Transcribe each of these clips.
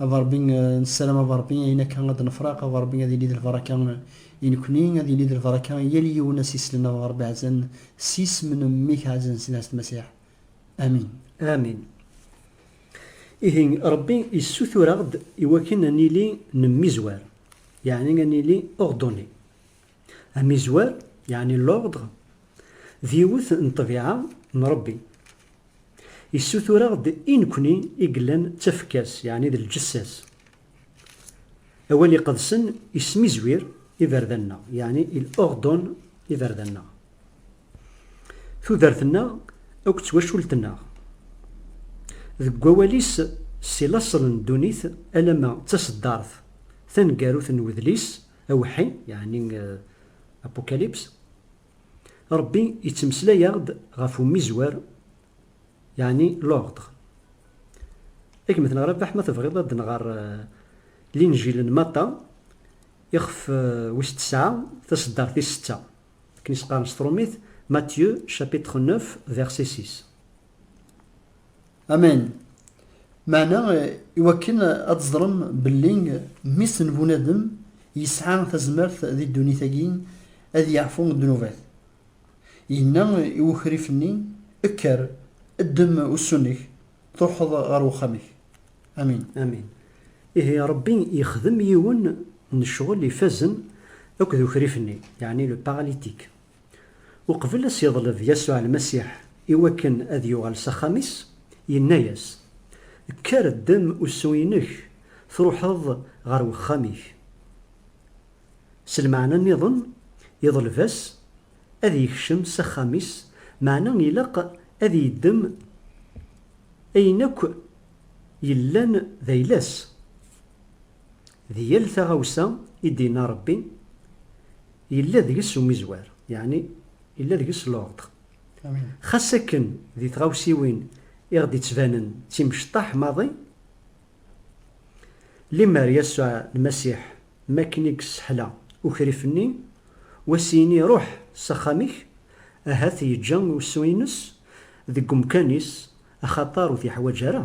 A Ṛebbi, nessaram a Ṛebbi ayen akka ad d-nefraq, a Ṛebbi, ad yili d lbaraka i nekni, ad yili d lbaraka i yal yiwen a s-islen, a Ṛebbi ɛzan s yisem n Mmi-k ɛzan s lɛezz n Masiḥ. Amin. Amin. Ihi, Ṛebbi yessutur-aɣ-d iwakken ad nili nemmizwar, yeɛni ad nili ordonné. Amizwer, yeɛni l'ordre, d yiwet n ṭṭbiɛa n Rebbi. Yessutur-aɣ-d i nekni i yellan d tafekka-s, yeɛni d lǧessa-s. Awal iqedsen yesmizwir iberdan-nneɣ, yeɛni il ordonne iberdan-nneɣ. Tudert-nneɣ akked twacult-nneɣ. Deg wawal-is si laṣel n ddunit alamma d taṣeddart taneggarut n wedlis, Awḥi, yeɛni Apocalypse, Ṛebbi yettmeslay-aɣ-d ɣef umizwer, yeɛni l'ordre. Ad kem-ten ɣer Rabaḥ ma tebɣiḍ ad nɣer Linjil n Maṭa, ixef wis tesɛa, taseddart tis setta. Akken i s-qqaren s tṛumit, Matthieu, chapitre neuf, verset six. Amen. Meɛna iwakken ad teẓrem belli mmi-s n bunadem yesɛa tazmert di ddunit-agi ad yeɛfu ddnubat. Yenna i wukrif-nni, Kker, ddem ussu-nnek, truḥeḍ ɣer wexxam-ik. Amin. Amin. Ihi Ṛebbi yexdem yiwen n ccɣel ifazen akked ukrif-nni, yeɛni le paralytique, Uqbel a s-yeḍleb Yasuɛ Lmasiḥ i wakken ad yuɣal s axxam-is, yenna-yas, Kker, ddem usu-inek, truḥeḍ ɣer wexxam-ik. S lmeɛna nniḍen, yeḍleb-as ad yekcem s axxam-is, meɛna ilaq ad yeddem ayen akk yellan d ayla-s. di yal taɣawsa i d-yenna Rebbi, yella deg-s umizwer, yeɛni yella deg-s l'ordre. Xas akken di tɣawsiwin i ɣ-d-ittbanen d timecṭaḥ maḍi, limer Yasuɛ Lmasiḥ m'akken i yesseḥla ukrif-nni, u as-yini ruḥ s axxam-ik, ahat yeǧǧa usu-ines deg umkan-is axaṭer ur t-yeḥwaǧ ara.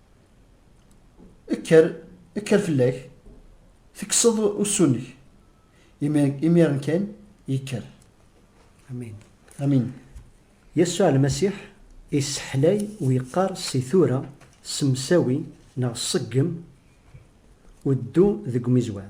Kker, kker fell-ak, tekkseḍ ussu-nnek. Imi- Imiren kan, yekker. Amin. Amin. Yasuɛ Lmasiḥ isseḥlay u yeqqar si tura ssemsawi neɣ ṣeggem u ddu deg umizwer.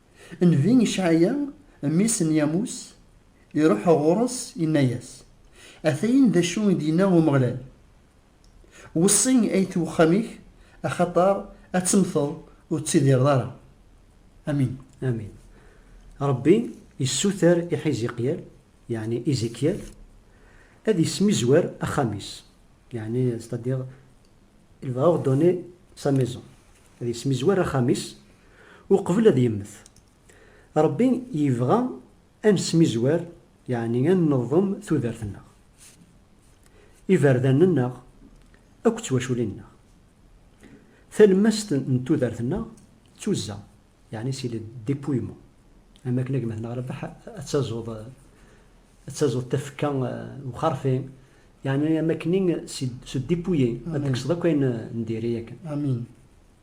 Nnbi Icɛaya, mmi-s n Yamus, iruḥ ɣur-s, inna-yas, Atayen d acu i d-yenna Umeɣlal, Weṣṣi ayt wexxam-ik, axaṭer ad temmteḍ, ur tettidireḍ ara. Amin. Amin. Ṛebbi yessuter i Ḥiziqyal, yeɛni Izikyal, ad yesmizwer axxam-is, yeɛni, c'est-à-dire, il va ordonner sa maison, ad yesmizwer axxam-is, Uqbel ad yemmet. Ṛebbi yebɣa ad nesmizwer, yeɛni ad neḍḍem tudert-nneɣ, iberdan-nneɣ akked twaculin-nneɣ. Talemmast n tudert-nneɣ d tuzza, yeɛni c'est le dépouillement, am wakken a gma-tneɣ Rabeḥ ad tazuḍ ad tazuḍ tafekka n uxerfi, yeɛni am wakken c'est se dépouiller, ad tekkseḍ akk ayen n diri akken. Amin.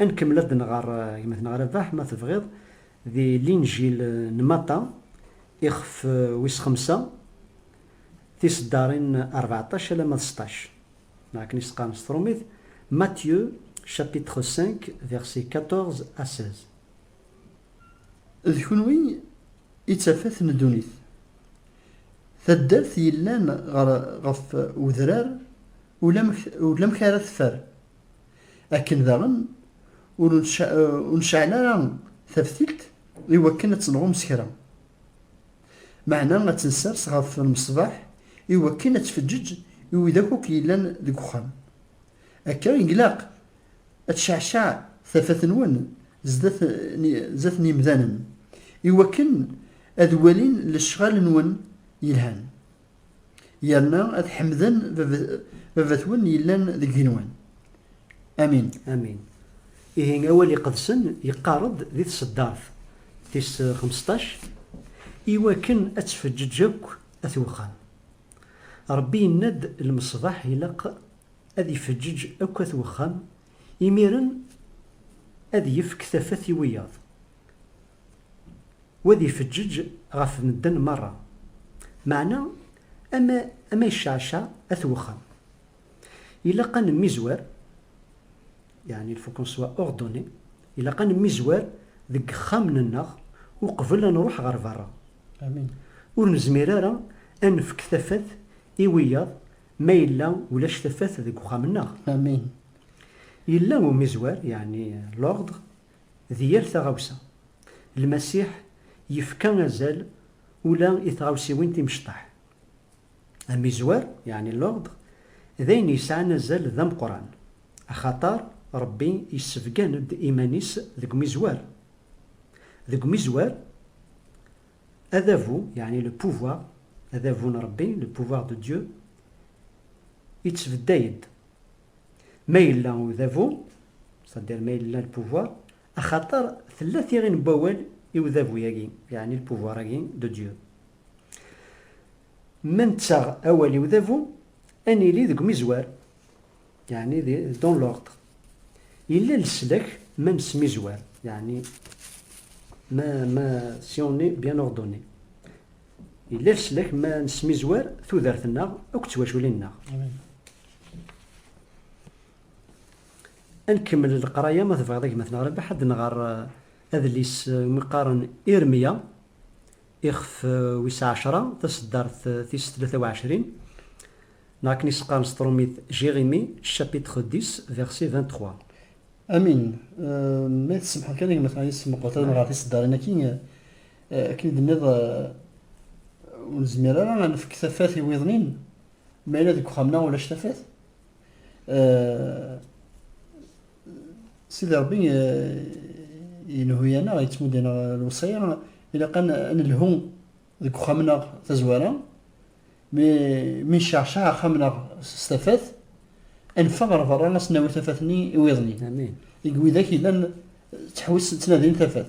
Ad nkemmel ad nɣer gma-tneɣ Rabaḥ, ma tebɣiḍ, di Linǧil n Maṭa, ixef wis xemsa, tiseddarin rbeɛṭac alamma d seṭṭac, neɣ akken i s-qqaren s tṛumit, Matthieu, chapitre cinq, versets quatorze à seize. D kunwi i d tafat n ddunit. Taddart yellan ɣef udrar Ulamek ara teffer. Akken daɣen ur nceɛl ara taftilt i wakken ad tenɣum s kra. Meɛna ad tensers ɣef lmeṣbaḥ i wakken ad tfeǧǧeǧ i widak akk yellan deg uxxam. Akka i glaq ad tceɛceɛ tafat-nwen zdat n yemdanen i wakken ad walin lecɣal-nwen yelhan. yerna ad ḥemden baba-twen yellan deg yigenwan. Amin. Amin. Ihi awal iqedsen yeqqar-d di tseddart tis xmesṭac, I wakken ad tfeǧǧeǧ akk at wexxam. Rebbi yenna-d lmeṣbaḥ ilaq ad ifeǧǧeǧ akk at wexxam, imiren ad yefk tafat i wiyaḍ. u ad ifeǧǧeǧ ɣef medden merra, meɛna ama ama yecceɛceɛ at wexxam. Ilaq ad nemmizwer, yeɛni il faut qu'on soit ordonné, ilaq ad nemmizwer deg yexxamen-nneɣ uqbel ad nruḥ ɣer berra. Ur nezmir ara ad nefk tafat i wiyaḍ ma yella ulac tafat deg uxxam-nneɣ. Yella umizwer, yeɛni l'ordre, D yir taɣawsa, Lmasiḥ yefka azal ula i tɣawsiwin timecṭaḥ. Amizwer, yeɛni l'ordre, d ayen yesɛan azal d ameqqran, axaṭer Ṛebbi yessebgan-d iman-is deg umizwer. Deg umizwer, adabu, yeɛni le pouvoir, adabu n Ṛebbi, le pouvoir de Dieu, ittbedday-d. Ma yella udabu, c'est-à-dire ma yella le pouvoir, axaṭer tella tiɣi n wawal i udabu-agi, yani le pouvoir-agi de Dieu. Ma nettaɣ awal i udabu, ad nili deg umizwar, yani dans l'ordre. Yella leslak ma nesmizwar, yani ma, ma, si on est bien ordonné. Yella leslak ma nesmizwar tudert-nneɣ akked twaculin-nneɣ. Ad nkemmel leqraya ma tebɣiḍ a gma-tneɣ Rabaḥ, ad nɣer adlis umi qqaren Irmya, ixef wis ɛecra, taseddart tis tlata u ɛecrin, neɣ akken i s-qqaren s trumit Jérémie, chapitre dix, verset vingt-trois. Amin. Ma i tsemḥeḍ kan a gma-tneɣ, i s-meqqret ad nɣer tiseddarin-agi Akken i d-tenniḍ, ur nezmir ara ad nefk tafat i wiḍen-in, ma yella deg uxxam-nneɣ ulac tafat. Sidi Ṛebbi yenhu-aneɣ, yettmudd-aneɣ lewṣaya, ilaq ad nelhu deg uxxam-nneɣ tazwara, mi necceɛceɛ axxam-nneɣ s tafat, ad neffeɣ ɣer berra ad s-nawi tafat-nni i wiḍen-in. Deg widak yellan ttḥewwisen, ttnadin tafat.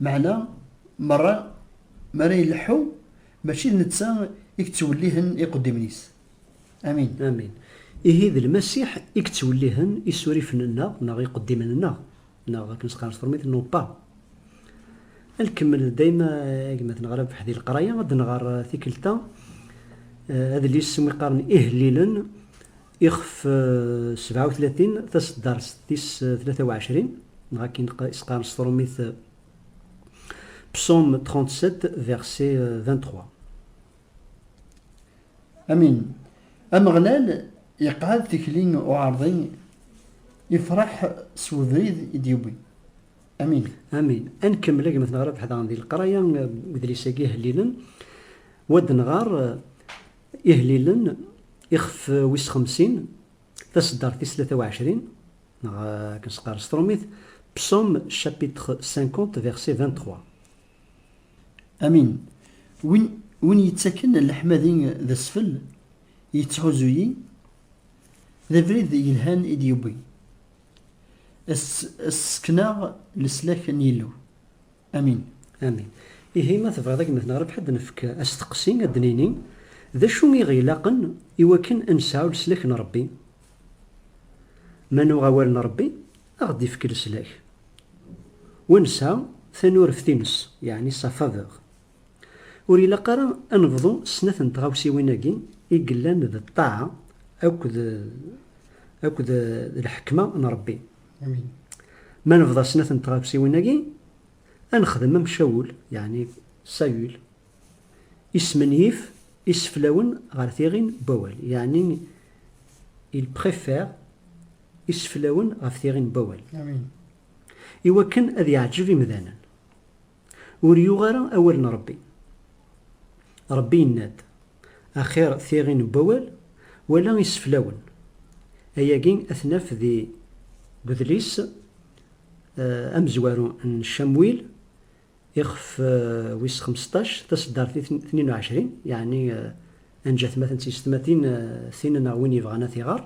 Meɛna merra mi ara ileḥḥu, mačči d netta i yettwellihen iqeddimen-is. Amin. Amin. Ihi d Lmasiḥ i yettwellihen isurifen-nneɣ neɣ iqeddimen-nneɣ, neɣ akken s-qqaren s termit, nos pas. Ad nkemmel dayem agmaten ɣer rrbeḥ di leqraya, ad nɣer tikkelt-a adlis iwumi qqaren Ihellilen Ixef sebɛa u tlatin, taseddarest tis tlata u ɛecrin, neɣ akken i s-qqaren s tṛumit, Psaume 37, verset 23. Amin. Ameɣlal iqɛed tikli n uɛerḍi, ifreḥ s webrid i d-yewwi. Amin. Amin. Ad nkemmel a gma-tneɣ Rabeḥ daɣen di leqraya n udlis-agi ihellilen, wa d-nɣer. Ihlilen, ixef wis xemsin, taseddart tis tlata u ɛecrin, neɣ akken s-qqar s trumit, Psaume chapitre 50 verset 23. Amin. Win, win yettaken leḥmadi d asfel, yettḥuzu-yi, d abrid yelhan i d-yewwi. As-tt-sekneɣ leslak n Yillu. Amin. Amin. Ihi ma tebɣiḍ a gma-tneɣ Rabeḥ ad d-nefk asteqsi, ad d-nini, D acu i ɣ-ilaqen i wakken ad nesɛu leslak n Rebbi? Ma nuɣ awal n Rebbi, a ɣ-d-ifk leslak. Wa nesɛa tanureft-ines, yeɛni sa faveur. Ur ilaq ara ad nebḍu snat n tɣawsiwin-agi i yellan d ṭṭaɛa akked akked lḥekma n Rebbi. Amin. Ma nebḍa snat n tɣawsiwin-agi, ad nexdem am Cawul, yeɛni Sayul, ismenyif iseflawen ɣer tiɣin n wawal, yeɛni il préfère iseflawen ɣef tiɣin n wawal, iwakken ad yeɛǧeb imdanen. Ur yuɣ ara awal n Ṛebbi. Ṛebbi yenna-d, Axir tiɣi n wawal wala iseflawen. Ayagi ad t-naf di udlis amezwaru n Camwil, ixef wis xmesṭac, taseddart tnin u ɛecrin, yeɛni anja-t ma ten-tt yessetma tin, tin neɣ win yebɣan ad t-iɣer.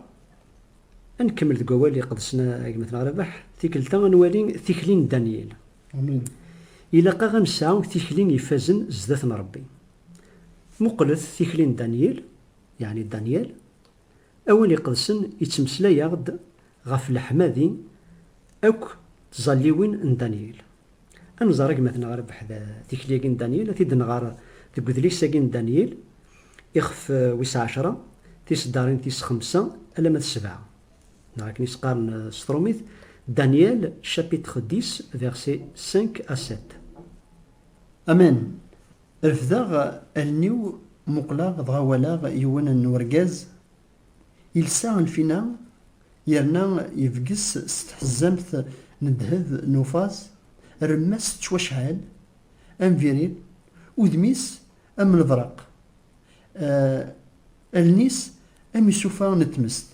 Ad nkemmel deg wawal iqedsen a gma-tneɣ Rabaḥ, tikkelt-a ad nwali tikli n Danyil. Amin. Ilaq-aɣ ad nesɛu tikli ifazen zdat n Ṛebbi. Muqlet tikli n Danyil, yeɛni Danyal. Awal iqedsen ittmeslay-aɣ-d ɣef leḥmadi akk d tẓalliwin n Danyil. Ad nẓer agmaten ɣer beḥd tikli-agi n Danyil, ad t-id-nɣer deg udlis-agi n Danyil, ixef wis ɛecra, tiseddarin tis xemsa alamma d sebɛa, neɣ akken i s-qqaren s trumit, Daniel chapitre dix versets cinq à sept. Amen! Refdeɣ allen-iw, muqleɣ, dɣa walaɣ yiwen n urgaz Ilsa lfina yerna yebges s tḥezzamt n ddheb n ufaẓ, rremma-s tettwacɛel am viril, udem-is am lebraq, allen-is am isufa n tmest,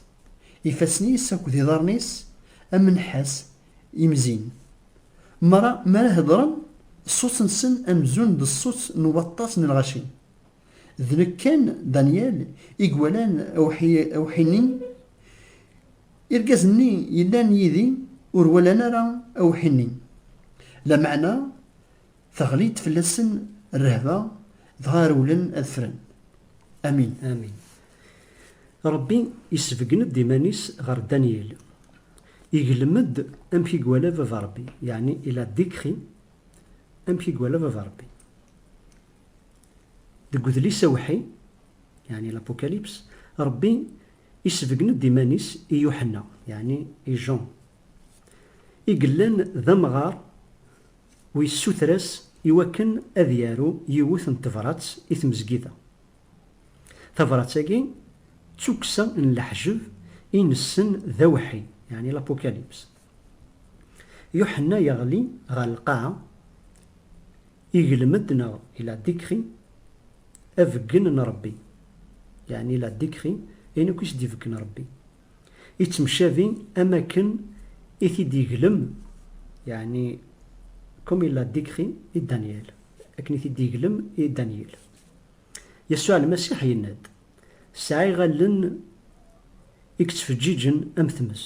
ifassen-is akked iḍarren-is am nnḥas imzin. Mara mi ara heddren, ṣṣut-nsen amzun d ṣṣut n waṭas n lɣaci. D nekk kan, Danyal, i iwalan awḥi-nni? Irgazen-nni yellan yid-i ur walan ara awḥi-nni. Lameɛna teɣli-d fell-asen rrehba, dɣa rewlen ad ffren. Amin. Amin. Ṛebbi isbeggen-d iman-is ɣer Danyal. Iglem-d amek i iwala Baba Ṛebbi, yeɛni il a décrit amek i iwala Baba Ṛebbi. Deg udlis awḥi, yeɛni l'Apocalypse, Ṛebbi isbeggen-d iman-is i Yuḥenna, yeɛni i Jean, i yellan d amɣar u yessuter-as i wakken ad yaru yiwet n tebrat i tmezgida. Tabrat-agi d tukksa n leḥjeb i nessen d awḥi, yeɛni l'Apocalypse. Yuḥenna yeɣli ɣer lqaɛa, iglem-d neɣ il a décrit abeggen n Rebbi, yeɛni il a décrit ayen akk i s-d-ibeggen Rebbi, ittemcabi am akken i t-id-yeglem, yeɛni comme il l'a décrit i Danyal, akken i t-id-yeglem i Danyil. Yasuɛ Lmasiḥ yenna-d. Sɛiɣ allen i yettfeǧǧiǧen am tmes,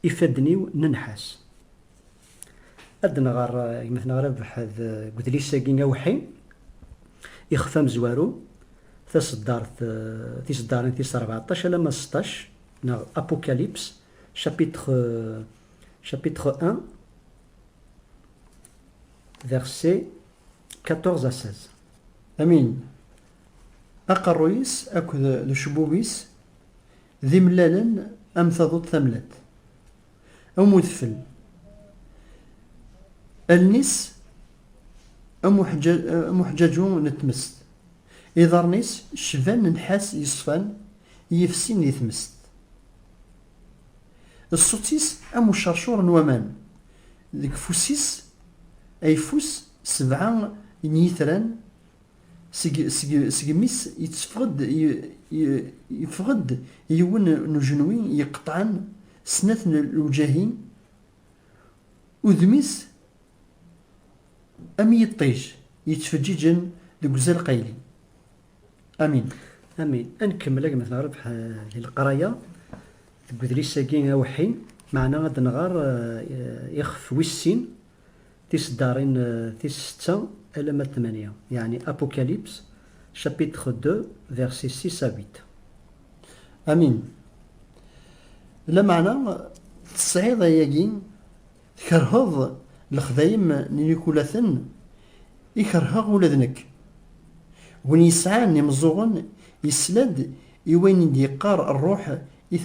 ifadden-iw n nnḥas. Ad d-nɣer gma-tneɣ Rabeḥ deg udlis-agi awḥi, ixef amezwaru, taṣeddart, tiṣeddarin tis rbeɛṭac alamma seṭṭac, neɣ Apocalypse, chapitre, chapitre un, versets quatorze à seize. Amin, Aqerruy-is akked d ucebbub-is d imellalen am taduḍt tamellalt, am udfel. Allen-is am uḥeǧǧaǧu n tmest. Iḍarren-is cban nnḥas yeṣfan i yefsin di tmest. Ṣṣut-is am ucercur n waman. Deg ufus-is ayeffus sebɛa n yitran Seg, seg, seg mmi-s yetteffeɣ-d, y, y, yeffeɣ-d yiwen n ujenwi yeqqeṭɛen snat n lewǧahin, udem-is am yiṭij yettfeǧǧiǧen deg uzal qayli. Amin. Amin. Ad nkemmel agmat nerbeḥ di leqraya deg udlis-agi awḥin, meɛna ad nɣer ixef wis sin. Tiseddarin tis setta alamma d tmanya, yeɛni Apocalypse, chapitres deux, versets six à huit. Amin. Lameɛna, tesɛiḍ ayagi, tkerheḍ lexdayem n yikulaten i kerheɣ ula d nekk. Win yesɛan imeẓẓuɣen yesla-d i wayen i d-yeqqar Rruḥ i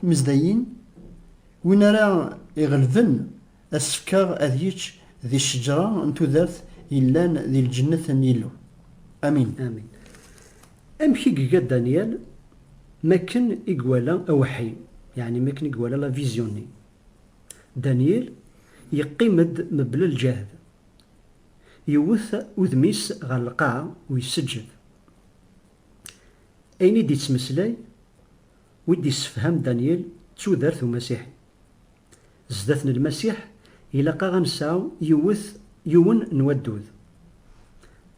tmezdayin, Win ara iɣelben, asefk-a ad yečč di cceǧra n tudert yellan di lǧennet n Yillu. Amin. Amin. Amek i iga Daniel makken i iwala aweḥḥi, yeɛni makken i iwala la vision-nni? Daniel yeqqim-d mebla lǧehd, yewwet udem-is ɣer lqaɛa u yesseǧhed. Ayen i d-yettmeslay Wi d-yessefham Daniel d tudert umasiḥi. Zdat n Lmasiḥ ilaq-aɣ ad nesɛu yiwet yiwen n waddud,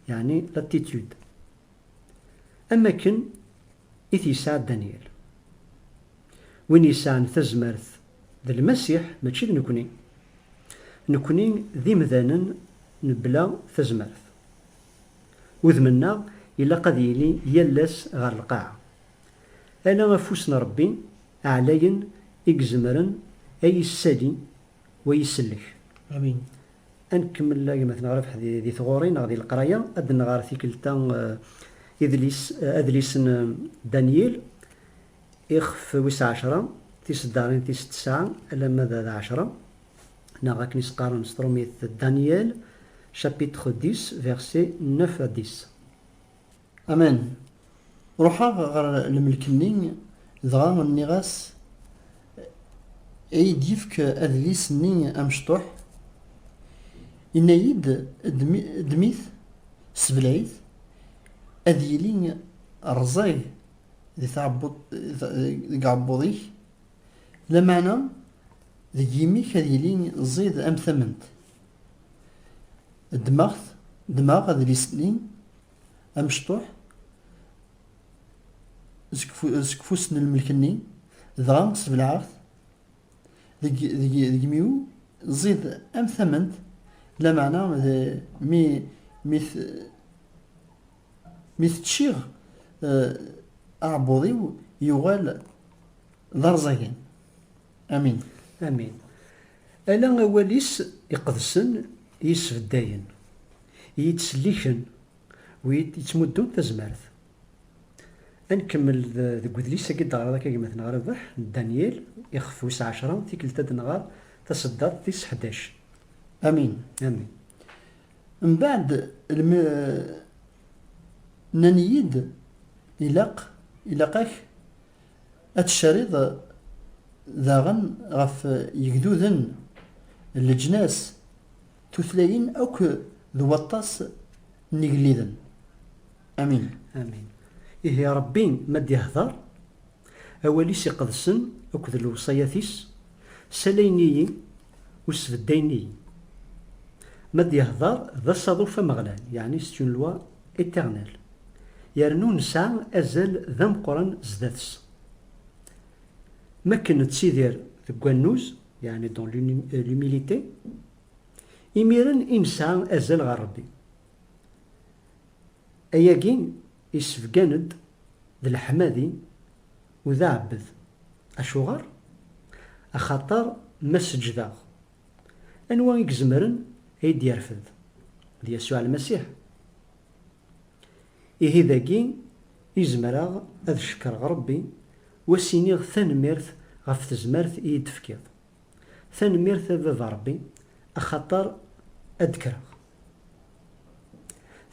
yeɛni l'attitude, am wakken i t-yesɛa Daniel. Win yesɛan tazmert d Lmasiḥ, mačči d nekni. Nekni d imdanen mebla tazmert. Udem-nneɣ ilaq ad yili yal ass ɣer lqaɛa. Ala afus n Ṛebbi ɛlayen i izemren a yi-ssali wa yi-sellek. Amin. Ad nkemmel agmat neɣ rrbeḥ di tɣuri neɣ di leqraya, ad d-nɣer tikkelt-a idlis, adlis n Danyil, ixef wis ɛecra, tiseddarin tis tesɛa alamma d d ɛecra, neɣ akken i s-qqaren s trumit Daniel, chapitre dix, versets neuf à dix. Aman. Ruḥeɣ ɣer lemlek-nni, dɣa nniɣ-as, Iyi-d-yefk adlis-nni amecṭuḥ. Yenna-yi-d, Ddem-it, sebleɛ-it, ad yili rẓag deg uɛebbuḍ-ik, lameɛna deg yimi-k ad yili ẓid am tament. Ddmeɣ adlis-nni. amecṭuḥ seg ufus n lmelk-nni, dɣa sbelɛeɣ-t deg yimi-w, ẓid am tament, lameɛna mi t-ččiɣ eh, aɛebbuḍ-iw yuɣal d arẓagan. Amin. Amin. Ala awal-is iqedsen i yessbeddayen, i yi-d-ttselliken u yi-d-yettmuddun tazmert. Ad nkemmel deg wedlis-agi i d-teɣriḍ akka gma-tneɣ Rabeḥ n Danyil, ixef wis ɛecra, tikkelt ad nɣer taseddaḍt tis ḥdac. Amin, amin. Mbeɛd lmi nnan-iyi-d ilaq, ilaq-ak Ad tcariḍ daɣen ɣef yegduden, leǧnas, tutlayin akk d waṭas n yigelliden. Amin. Amin. Ihi Ṛebbi ma d-ihdeṛ, awal-is iqedsen akked lewṣayat-is, salayen-iyi Ur sbeddayen i Ma d-yehder d asaḍuf ameɣlal, yeɛni c'est une loi éternelle, yernu nesɛa azal d ameqqran zdat-s. Mi akken nettidir deg wannuz, yeɛni dans l'humilité, imiren i nesɛa azal ɣer Rebbi. Ayagi. Isebgan-d d leḥmadi u d aɛebbed. Acuɣer? Axaṭer ma seǧǧdeɣ, anwa i izemren a yi-d-yerfed? D Yasuɛ Lmasiḥ. Ihi dagi i zemreɣ ad cekkreɣ Ṛebbi u as-iniɣ tanemmirt ɣef tezmert i yi-d-tefkiḍ. Tanemmirt a baba Rebbi axaṭer ad d-kkreɣ.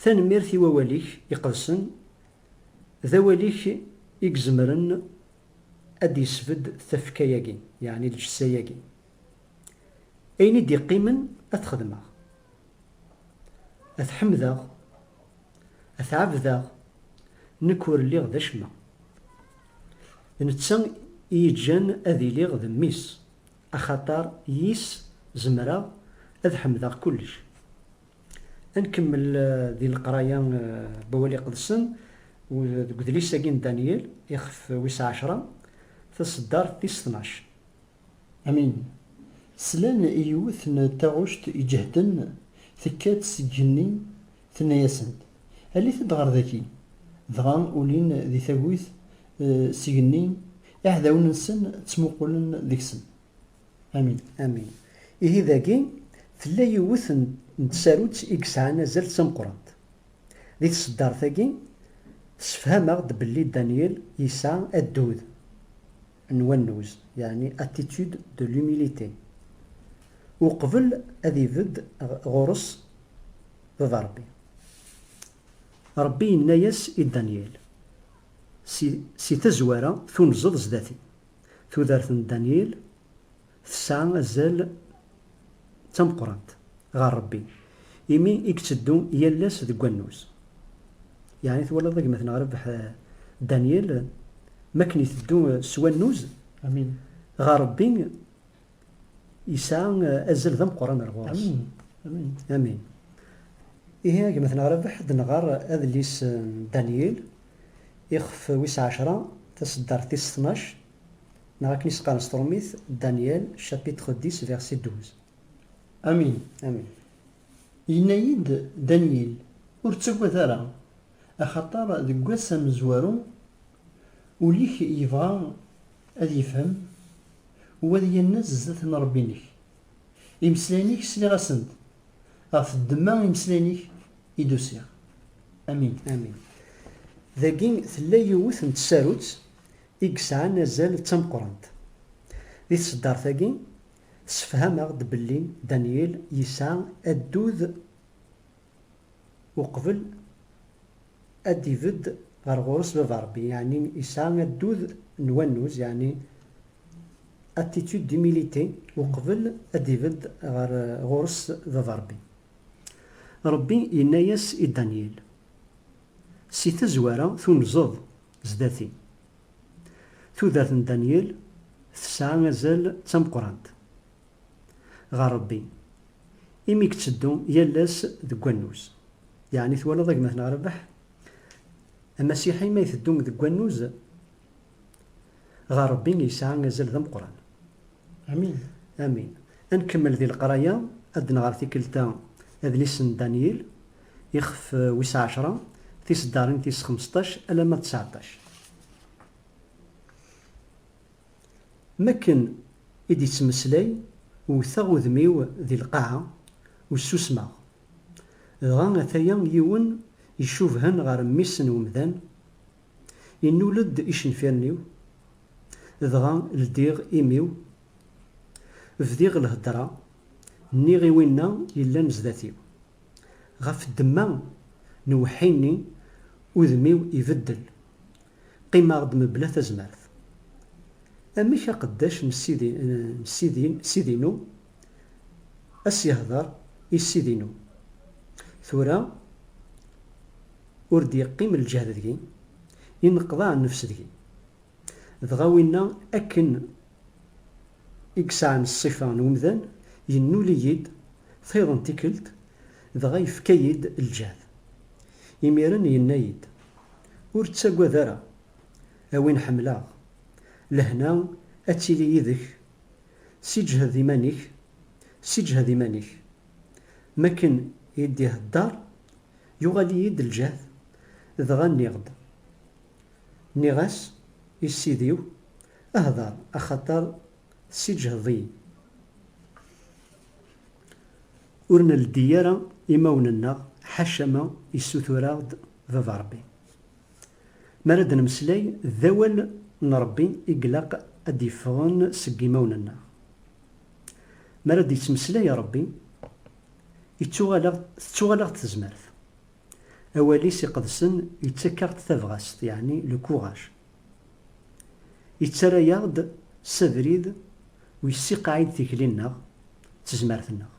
Tanemmirt i wawal-ik iqedsen, d awal-ik i izemren ad d-yesbedd tafekka-agi, yeɛni lǧessa-agi. Ayen i d-iqqimen ad t-xedmeɣ, ad t-ḥemdeɣ A t-ɛebdeɣ, nekk ur lliɣ d acemma. D netta i yeǧǧan ad iliɣ d mmi-s, axaṭer yis zemreɣ ad ḥemdeɣ kullec. A nkemmel di leqraya n Wawal Iqedsen deg udlis-agi n Danyal, ixef wis ɛecra, taṣeddart tis tnac. Amin. Slan i yiwet n taɣect iǧehden tekka-d seg igenni, tenna-yasen-d, Alit-d ɣer daki! Dɣa ulin di tagut s igenni, iɛdawen-nsen ttmuqulen deg-sen. Amin. Amin. Ihi dagi, tella yiwet n tsarut i yesɛan azal d tameqqrant. Di tseddart-agi, tessefham-aɣ-d belli Danyal yesɛa addud. n wannuz, yeɛni attitude de l'humilité, uqbel ad ibedd ɣur-s Baba Rebbi. Rebbi yenna-yas i Danyil, Si, si tazwara tunzeḍ zdat-i, tudert n Danyil, Tesɛa azal d tameqqrant ɣer Rebbi, imi i iteddu yal ass deg wannuz. Yeɛni twalaḍ a gma-tneɣ Rrbeḥ Daniel, mi akken iteddu s wannuz ɣer Rebbi, yesɛa azal d ameqqran ar ɣur-s. Amin. Ihi a gma-tneɣ Rrbeḥ ad nɣer adlis n Daniel, ixef wis ɛecra, taseddart tis tnac, Neɣ akken i s-qqaren s trumit, Daniel, chapitre dix, verset douze. Amin. Amin. Yenna-yi-d Daniel, Ur ttagad ara, axaṭer deg wass amezwaru, ul-ik yebɣa ad yefhem, u ad yannez zdat n Rebbi-nnek. Imeslayen-ik sliɣ-asen-d, ɣef ddemma imeslayen-ik i d-usiɣ. Amin. Amin. Dagi tella yiwet n tsarut i yesɛan azal d tameqqrant. Di tseddart-agi, tessefham-aɣ-d belli Danyil yesɛa addud uqbel ad d-ibedd ɣer ɣur-s Baba Rebbi, yeɛni yesɛa addud n wannuz, yeɛni attitude d'humilité, uqbel ad d-ibedd ɣer ɣur-s Baba Rebbi. Rebbi yenna-yas i Danyil, Si tazwara tunzeḍ. Zdat-i. Tudert n Danyal tesɛa azal d tameqqrant ɣer Rebbi, imi yetteddu yal ass deg wannuz. Yeɛni twalaḍ a gma-tneɣ Rabeḥ? Amasiḥi ma iteddu deg wannuz ɣer Rebbi yesɛa azal d ameqqran. Amin. Amin. Ad nkemmel di leqraya, ad d-nɣer tikkelt-a adlis n Danyal, Ixef wis ɛecra, tiseddarin tis xmesṭac alamma d tseɛṭac. M akken i d-ittmeslay, wwteɣ udem-iw di lqaɛa, ur ssusmeɣ. Dɣa ataya yiwen icubhen ɣer mmi-s n wemdan, innul-d icenfiren-iw, dɣa ldiɣ imi-w, bdiɣ lhedra, nniɣ i winna yellan zdat-iw. Ɣef ddemma n uweḥḥi-nni, udem-iw ibeddel. Qqimeɣ-d mebla tazmert. Amek aqeddac n ssid-inu ad s-yehder i ssid-inu? Tura ur d-yeqqim lǧehd deg-i, inneqḍaɛ nnefs deg-i. Dɣa winna akken i yesɛan ṣṣifa n umdan, yennul-iyi-d Txiḍ n tikkelt, dɣa yefka-yi-d ljehd. Imiren yenna-yi-d, Ur ttagad ara, a win ḥemmleɣ, lehna ad tili yid-k, siǧhed iman-ik, siǧhed iman-ik. Mi akken i d-ihedder, yuɣal-iyi-d ljehd, dɣa nniɣ-d. Nniɣ-as i ssid-iw, Hder, axaṭer tessiǧhdeḍ-iyi. Ur nleddi ara imawen-nneɣ, ḥaca ma yessutur-aɣ-d Baba Rebbi. Mi ara d-nemmeslay, d awal n Rebbi i ilaq ad d-yeffɣen seg yimawen-nneɣ. Mi ara d-yettmeslay Rebbi, ittuɣal-aɣ, tettuɣal-aɣ-d tezmert. Awal-is iqedsen yettak-aɣ-d tabɣest, yeɛni le courage. Yettarra-yaɣ-d s abrid ur yessiqaɛid tikli-nneɣ d tezmert-nneɣ.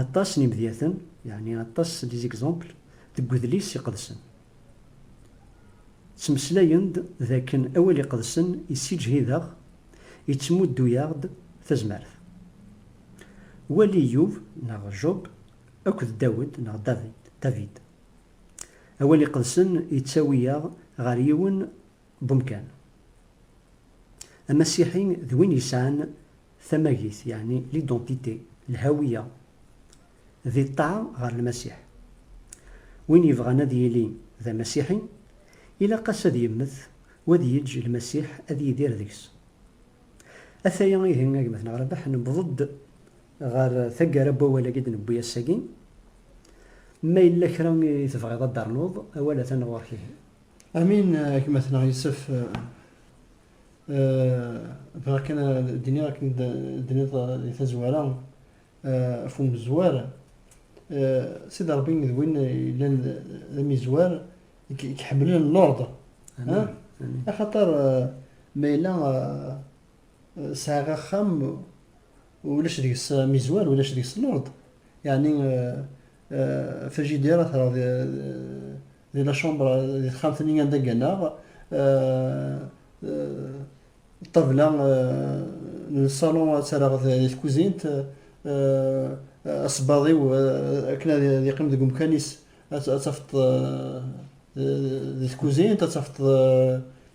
Aṭas n imedyaten, yeɛni aṭas des exemples, deg Wedlis Iqedsen, ttmeslayen-d d akken Awal Iqedsen yessiǧhid-aɣ, yettmuddu-yaɣ-d tazmert. Wali Iyub, neɣ Job, Akked Dawed neɣ David, David. Awal iqedsen yettawi-yaɣ ɣer yiwen n umkan. Amasiḥi d win yesɛan tamagit, yeɛni l'identité, lhawiya, di ṭṭaɛa ɣer Lmasiḥ. Win yebɣan ad yili d Amasiḥi, ilaq-as ad yemmet u ad yeǧǧ Lmasiḥ ad yidir deg-s. Ataya ihi a gma-tneɣ Rabaḥ, newweḍ-d Ɣer taggara n wawal-agi i d-newwi ass-agi, ma yella kra i tebɣiḍ ad d-ternuḍ, awal atan ɣur-k ihi. Amin, gma-tneɣ Yusef. Bɣiɣ kan ad d-iniɣ akken d-tenniḍ di tazwara ɣef umezwar, Sidi Ṛebbi d win yellan d amizwar i k-iḥemmlen l'ordre. Axaṭer ma yella sɛiɣ axxam, ulac deg-s mizwar, ulac deg-s lord, yeɛni frigidaire atreɣ di la chambre di texxamt-nni anda gganeɣ, ṭṭabla n ṣṣalun atreɣ di tkuzint, asebbaḍ-iw akken ad yeqqim deg umkan-is ad tafeḍ di tkuzint, ad tafeḍ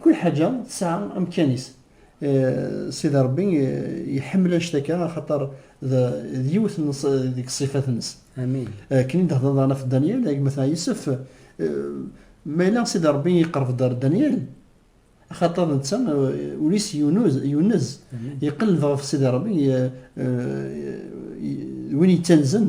Kul ḥaǧa tesɛa amkan-is. Sidi Ṛebbi iḥemmel anect-akka axaṭer d yiwet deg ṣṣifat-nnes. Akken i d-thedreḍ daɣen ɣef Danyal, a gma Yusef, ma yella Sidi Ṛebbi iqerreb-d ɣer Danyal, axaṭer netta ul-is yunez, iqelleb ɣef Sidi Ṛebbi, d win yettanzen.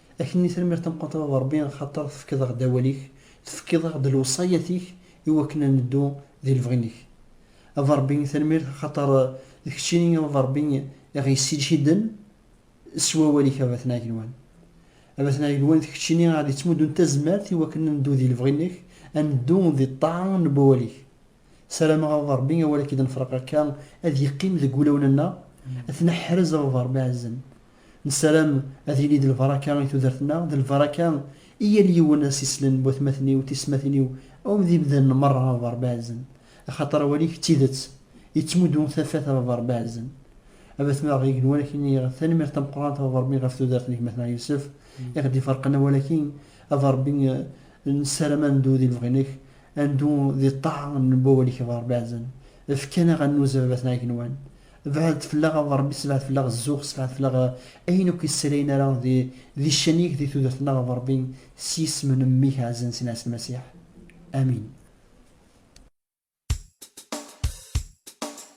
Akenni tanemmirt tameqqrant a baba Rebbi axater tefkiḍ aɣ-d awal-ik, tefkiḍ aɣ-d lewṣayat-ik i wakken a neddu di lebɣi-nek. A baba Rebbi tanemmirt axater d keččini a baba Rebbi i ɣ-yessiǧhiden s wawal-ik a baba Tenɛigelwan. A baba Tenɛigelwan d keččini i ɣ-d-yettmuddun tazmert i wakken a neddu di lebɣi-nek, a neddu di ṭṭaɛa n wawal-ik. Sarameɣ a baba Rebbi awal akk-id nefreq akka ad yeqqim deg wulawen-nneɣ, ad t-neḥrez a baba Rebbi ɛezzen. Nessaram ad yili d lbaraka i tudert-nneɣ, d lbaraka i yal yiwen ad s-islen n watmaten-iw d teysetmatin-iw awm d imdanen merra a baba Rebbi ɛezzen, axaṭer awal-ik d tidet, yettmuddu tafat a baba Rebbi ɛezzen. A batma-ɣ igenwan ad k-iniɣ tanemmirt tameqqrant a baba Rebbi ɣef tudert n gma-tneɣ Yusef i ɣ-d-iferqen awal-agi, a baba Rebbi nessaram ad neddu di lebɣi-nnek, Ad neddu di ṭṭaɛa n wawal-ik a Ṛebbi ɛzan. Efk-aneɣ ad nnuz a baba-tneɣ igenwan. Bɛed fell-aɣ a Ṛebbi sebɛed fell-aɣ zzux sebɛed fell-aɣ ayen akk yessalayen ara di ccan-ik di tudert-nneɣ a Ṛebbi s yisem n mmi-k ɛzan Sina Ɛisa Lmasiḥ. Amin.